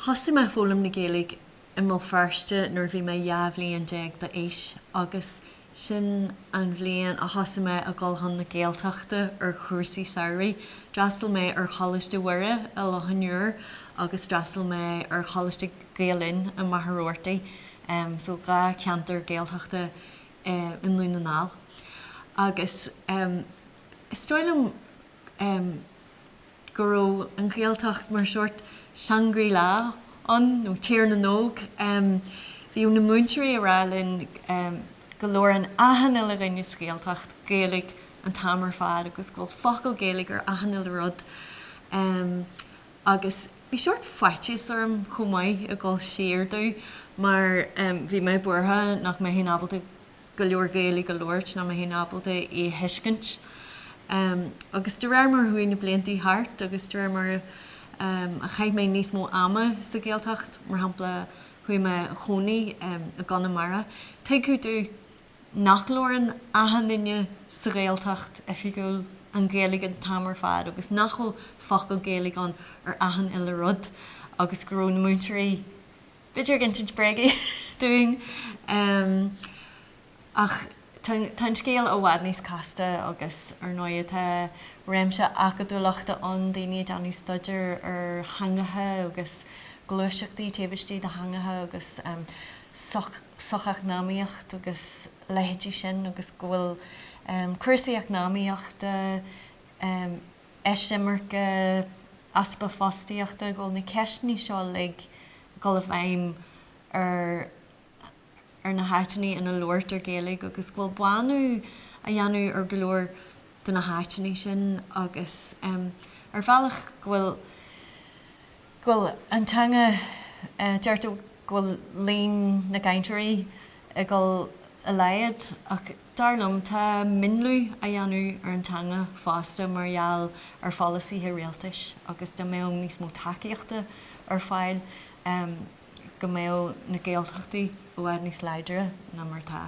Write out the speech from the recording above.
Thosaigh mé ag foghlaim na Gaeilge i mBéal Feirste nuair a bhí mé dhá bhliain déag d'aois agus sin an bhliain a thosaigh mé ag dul chun na Gaeltachta ar chúrsaí samhraidh. D'fhreastail mé ar Choláiste Mhuire i Loch an Iúir agus d'fhreastail mé ar Choláiste Gael-Linn i Machaire Rabhartaigh, so dhá cheantar Gaeltachta i nDún na nGall. Agus is dóigh liom. go raibh an Ghaeltacht mar sheort Shangri La ann, nó Tír na nÓg. Bhí na múinteoirí ag rá linn go labhrann achan uile dhuine sa Ghaeltacht Gaeilge an t-am ar fad agus go bhfuil focal Gaeilge ar achan uile rud. Agus bhí seort faitíos orm chomh maith ag dul siar domh mar bhí mé buartha nach mbeinn ábalta go leor Gaeilge a labhairt nach mbeinn ábalta í a thuiscint. Agus de réir mar a chuaigh na blianta thart agus de réir mar a chaith mé níos mó ama sa Ghaeltacht, mar shampla chuaigh mé a chónaí i gConamara, tuigeadh domh nach labhrann achan duine sa Ghaeltacht oifigiúil an Ghaeilge an t-am ar fad agus nach bhfuil focal Gaeilge ann ar achan uile rud agus go raibh na múinteoirí b'fhéidir ag insint bréagaí dúinn ach tá an scéal i bhfad níos casta agus ar ndóigh tá réimse acadúlachta ann, daoine ag déanamh staidéar ar theangacha agus gluaiseachtaí taobh istigh de theangacha agus socheacnamaíocht agus leithéidí sin agus go bhfuil cúrsaí eacnamaíochta, eisimirce, easpa fostaíochta, go bhfuil na ceisteanna seo uilig ag dul i bhfeidhm ar na háiteanna ina labhairtear Gaeilge agus go bhfuil bánú á dhéanamh ar go leor de na háiteanna sin agus ar bhealach go bhfuil go bhfuil an teanga, deirtear go bhfuil líon na gcainteoirí ag dul i laghad ach dar liom tá mionlú á dhéanamh ar an teanga fosta mar gheall ar pholasaithe rialtais agus dá mbeadh níos mó tacaíochta ar fáil go mbeadh na Gaeltachtaí i bhfad níos láidre ná mar atá.